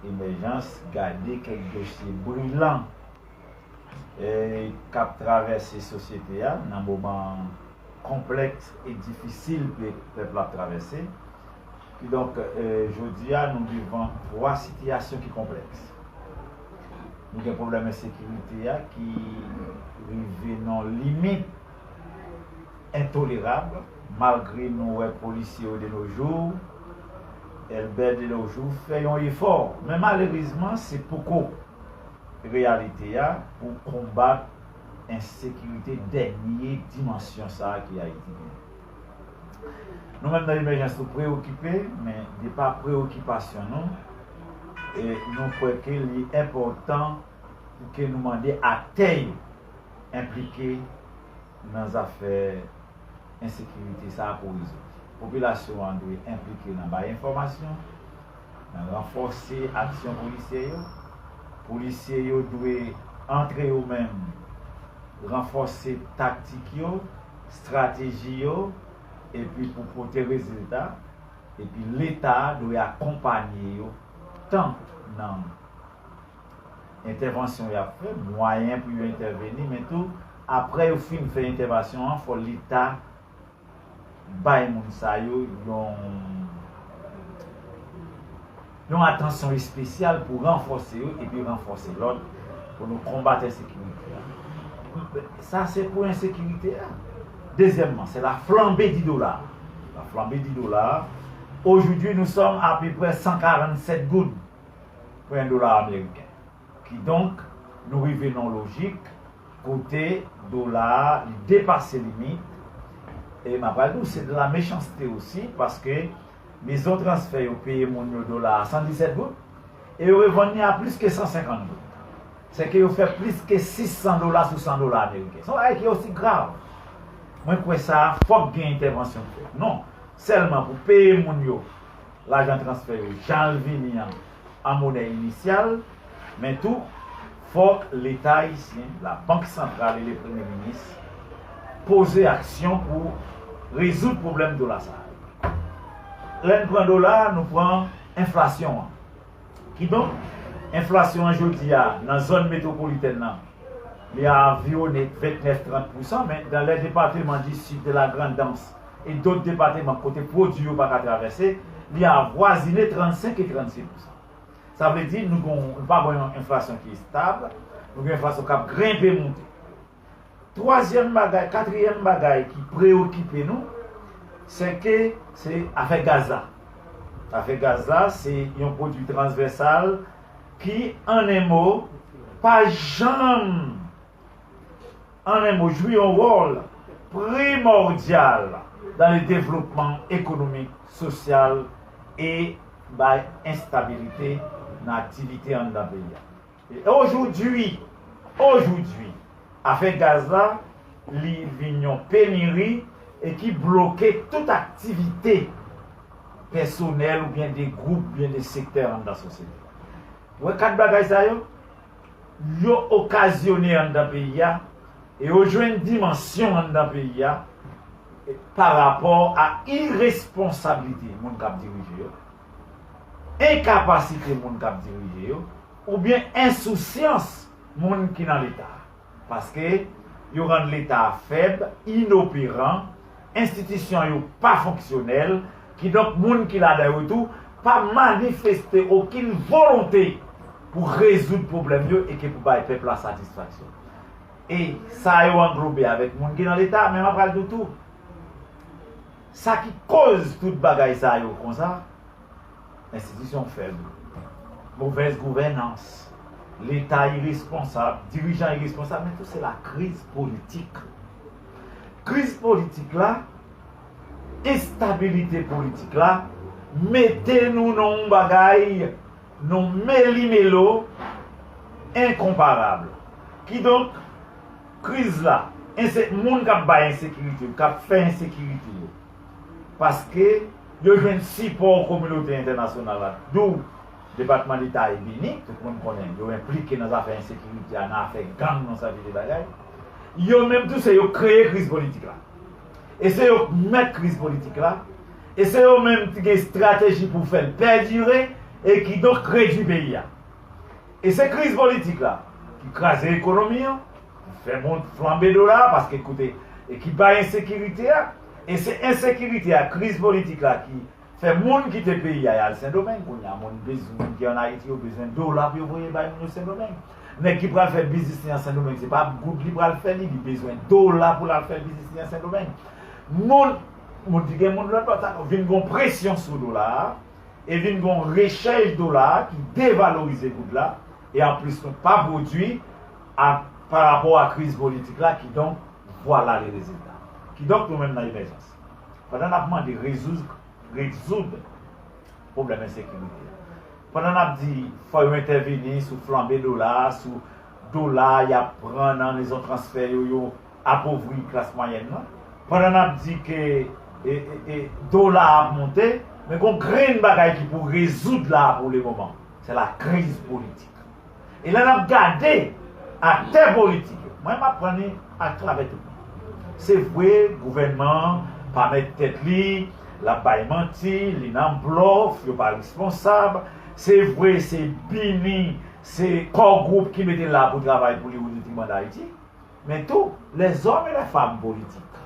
Emèjans gade kèk dosye brilan k ap travèse sosyete a nan moman konplèks e difisil pèp la ap travèse. Kidonk, jodi a nou devan twa sitiyasyon ki konplèks. Nou gen pwoblèm ensekirite a ki rive nan limit. Entolerab, malgre nou wè polisye yo de nos jours, Elbè de nos jours fè yon efò, men malerezman se poko reyalite a pou konbat ensekirite dènye dimansyon sa a ke Ayiti genyen. Nou menm nan Emèjans nou preyokipe, men de pa preyokipasyon nou, nou kwè ke li enpòtan pou ke nou mande aktè yo enplike, nan zafè ensekirite sa a pou rezoud. Popilasyon an dwe enplike nan bay enfòmasyon, nan ranfòse aksyon polisyè yo. Polisye yo dwe antre yo menm ranfòse taktik yo, strateji yo epi pou pote rezilta, epi leta dwe akonpanye yo tan nan. entèvansyon y ap fè, mwayen pou yo entèveni men tou aprè yo fin fè entèvasyon an fò leta bay moun sa yo yon yon atansyon espesyal pou ranfòse yo epi ranfòse lòt pou nou konbat ensekirite a. Sa se pou ensekirite a. Dezyèmman, se la flanbe di dola a. La flanbe di dola a, ojoudwi nou sòm apeprè 147 goud. pwen dola ameriken. Kidonk, nou rive nan yon lojik kote dola a li depase limit, e m ap pral di w se de la mechanste osi paske mezon transfè yo peye moun yo dola a 117 goud e yo revann li a plis ke 150 goud. Sèke yo fè plis ke 600 dola sou 100 dola ameriken. Se yon bagay ki osi grav. Mwen kwè sa a fòk gen entèvansyon k fèt. Non sèlman pou peye moun yo. lajan transfè yo jal vini an an monè inisyal, men tou fòk Leta ayisyen, Labank Santral e Lepremye Minis poze aksyon pou rezoud pwoblèm dola sa a yo. Lè n pran dola a, nou pran enflasyon an. Kidonk, enflasyon an jodi a nan zòn metwopolitèn lan, li aviwone 29, 30 pousan, men dan lè depateman di Sid, de la Grandans, e dot depateman kote pwodui yo pa ka travèse, li avwazine 35 e 36 pousan. Sa vle di nou gon nou pa gon yon enflasyon ki estab, nou gen enflasyon k ap grenpe moute. Twazyèm bagay, katriyèm bagay ki preyokipe nou, sè ke se afè gaz la. Afè gaz la se yon pwodui transvèsal ki, an en mo, pa janm. an un mot, jwi yon wòl primòdyal dan le devlopman ekonomik, sosyal e bay enstabilite nan aktivite anndan peyi a. E ojoudwi, ojoudwi, afè gaz la, li vin yon peniri e ki bloke tout aktivite pèsonèl oubyen de gwoup oubyen de sektè anndan sosyete a. Ou wè 4 bagay sa yo? yo okazyone anndan peyi a e yo jwenn dimansyon anndan peyi a pa rapò a iresponsablite moun k ap dirije yo, enkapasite moun k ap dirije yo oubyen ensousyans moun ki nan Leta a. Paske, yo rann Leta a fèb, inoperan, enstitisyon yo pa fonksyonèl, kidonk moun ki ladan yo tou pa manifeste okenn volonte pou rezoud pwoblèm yo eke pou bay pèp la satisfaksyon. E sa yo anglobe avèk moun ki nan Leta a, men mwen pral di w tou, sa ki koz tout bagay sa yo konsa, Enstitisyon fèb, movèz gouvènans, leta iresponsab, dirijan iresponsab men tou se la kriz politik. Kriz politik la, enstabilite politik la mete nou nan yon bagay, nan yon melimelo enkonparab. Kidonk, kriz la, moun k ap bay ensekirite yo, k ap fè ensekirite yo, paske yo jwenn sipò kominote entènasyonal la dou depatman deta e bini, tout moun konnen yo enplike nan zafè ensekirite a, nan afè gang nan sèvi de bagay. Yo menm tou se yo kreye kriz politik la e se yo k mèt kriz politik la e se yo menm ki gen estrateji pou fè l pèdire e kidonk redui peyi a e se kriz politik la ki kraze ekonomi an, Fè mont flanbe dola a paske koute e ki bay ensekirite a e se ensekirite a kriz politik la ki fè moun kite peyi a yal sendomeng kounye a moun biz moun ki an ayiti yo bezwen dola pou yo voye bay moun yo sendomeng nèg ki pral fè biznis li an sendomeng se pa ap goud li pral fè li li bezwen dola pou lal fè biznis li an sendomeng moun moun ki gen moun lòt bò ta vin gon presyon sou dola a e vin gon rechèj dola a ki devalorize goud la e anplis nou pa pwodwi a pa rapò a kriz politik la kidonk vwala le rezilta. Kidonk nou menm nan Emèjans pandan nap mande rezouz rezoud pwoblèm ensekirite a, pandan nap di fò yo entèveni sou flanbe dola a, sou dola yap pran nan mezon transfè yo, yo apovri klas mwayèn nan, pandan nap di ke e dola ap monte, men gon grenn bagay ki pou rezoud la a pou le moman, se la kriz politik. E lè nap gade aktè politik yo, mwen map pran li ak travè tout moun. Se vre gouvènman an pa mèt tèt li, lap bay manti, li nan blòf, yo pa responsab, se vre se bini, se kò gwoup ki mete l la pou travay pou li ou detriman dayiti, men tou lèzòm e lèfam politik.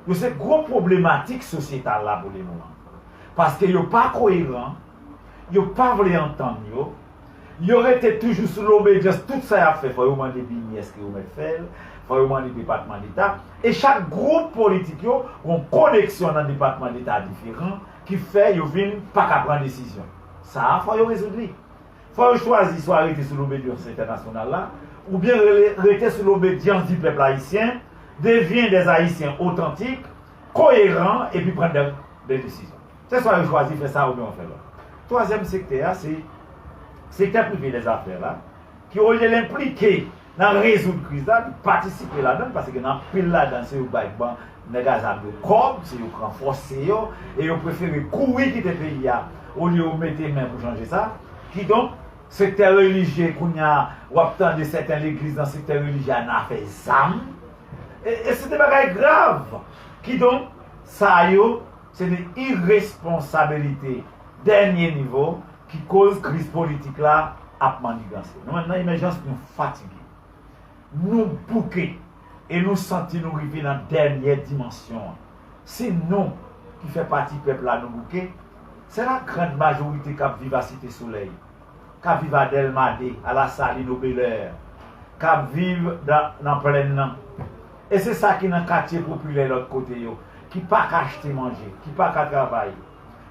Yo se gwo pwoblematik sosyetal la pou lemoman. Paske yo pa koyeran, yo pa vle antann yo, yo rete toujou sou lobedyans tout sa y ap fè fò yo mande bini èske yo mèt fè l, fò yo mande depatman deta, e chak gwoup politik yo gon koneksyon nan depatman deta diferan ki fè yo vin pa ka pran desizyon. Sa a fò yo rezoud li. Fò yo chwazi swa rete sou lobedyans entènasyonal la, oubyen rele rete sou lobedyans di pèp ayisyen, devyen dè Ayisyen otantik, koyeran epi pran dè desizyon. Se swa yo chwazi fè sa oubyen yo fè lòt. Twazyèm sektè a se sektè prive dè zafè la ki olye l enplike. Nan rezoud kriz la li patisipe ladann pase gen anpil ladan se yo bay ban nèg a zam yo kòb se yo pran fòse yo e yo prefere kouri kite peyi a olye yo mete men pou chanje sa kidonk sektè relijye kounya wap tande sèten legliz nan sektè relijye a nan afè zam e e se de bagay grav kidonk sa yo se de iresponsabilite dènye nivo Ki koz kriz politik la ap manniganse. Nou menm nan Emèjans nou fatige. Nou bouke e nou santi nou rive nan dènyè dimansyon an. Si nou, ki fè pati pèp la nou bouke, se la grand majorite k ap viv a Site Solèy, k ap viv a Dèlma 2, a Lasalin, o Belè, k ap viv nan plenn nan e se sa ki nan katye popilè lòt kote yo ki pa ka achte manje, ki pa ka travay.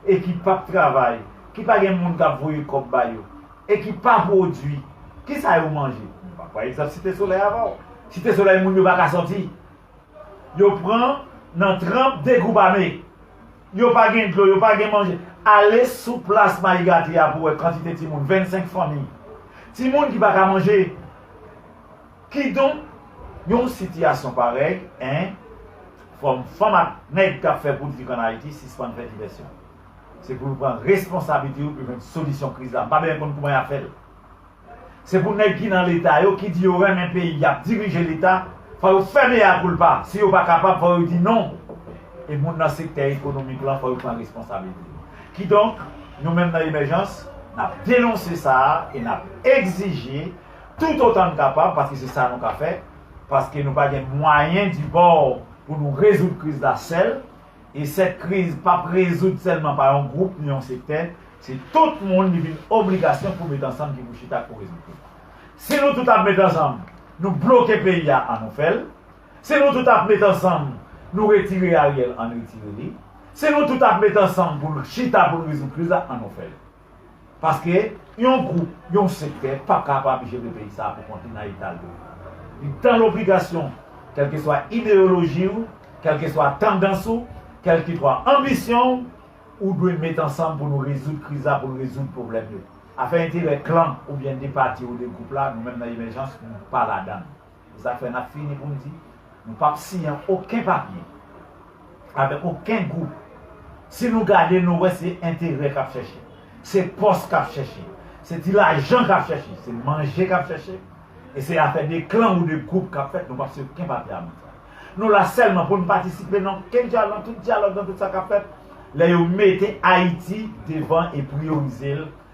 e ki pap travay, ki pa gen moun kap voye kòb ba yo, e ki pa pwodui, ki sa yo manje? Nou pa pran egzanp Site Solèy avan. Site Solèy moun yo pa ka sòti. Yo pran nan tranp degoubame. Yo pa gen dlo, yo pa gen manje. Ale sou plas Mayigati a pou wè kantite timoun, 25 fanmi. Timoun ki pa ka manje. Kidonk, yon sitiyasyon parèy, 1 fòm fanm ak nèg k ap fè politik an Ayiti sispann fè divèsyon. Se pou yo pran responsablite yo pou yo jwenn solisyon kriz la. M pa bezwen konn kouman y ap fè l. Se pou nèg ki nan Leta yo, ki di yo renmen peyi, y ap dirije Leta, fò yo fè mea culpa. Si yo pa kapab, fò yo di non. E moun nan sektè ekonomik lan, fò yo pran responsablite yo. Kidonk, nou menm nan Emèjans, n ap denonse sa a e n ap egzije Tout otan n kapab, paske se sa nou ka fè, paske nou pa gen mwayen di bò pou nou rezoud kriz la sèl, e sèt kriz pa p rezoud sèlman pa yon gwoup ni yon sektè, se tout moun li vin obligasyon pou met ansanm ki pou chita k pou rezoud li. Si nou tout ap met ansanm nou bloke peyi a an nou fè l, si nou tout ap met ansanm nou retire Ariel an n retire li, si nou tout ap met ansanm pou n chita pou n rezoud kriz la an nou fè l. Paske yon gwoup, yon sektè pap ka ap ap jere peyi sa a pou kont li nan eta l yo. Li dan lobligasyon, kèlkeswa ideyoloji ou, kèlkeswa tandans ou, kèlkitwa anbisyon ou, ou dwe met ansanm pou nou rezoud kriz la, pou nou rezoud pwoblèm yo. Afè enterè klan oubyen de pati ou de gwoup la, nou menm nan Emèjans, nou pa ladan l. Zafè n ap fini pou n di nou pap siyen oken papye avèk oken gwoup. Si nou gade nou wè se enterè k ap chèche, se pòs k ap chèche, se ti lajan k ap chèche, se manje k ap chèche e se afè de klan ou de gwoup k ap fèt nou pap siyen oken papye avan sa. Nou la sèlman pou n patisipe nan oken dyalòg, nan tout dyalòg, nan tout sa k ap fèt lè yo mete Ayiti devan e priyorize l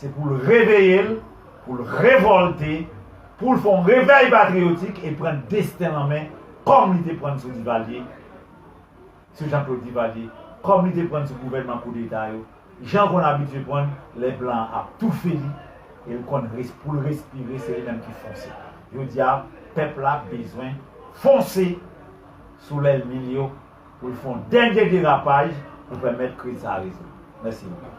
Se pou l reveye l, pou l revòlte, pou l fè yon revèy patriyotik e pran desten l an men kòm li te pran l sou Divalye, sou Janklod Divalye, kòm li te pran l sou gouvènman koudeta yo, jan l konn abitye pran l lè blan an ap toufe li e l konn pou l respire se li menm ki fonse. Jodi a pèp la bezwen fonse sou lèlmi l yo pou l fè yon dènye derapaj pou pèmèt kriz sa a rezoud. Mèsi anpil.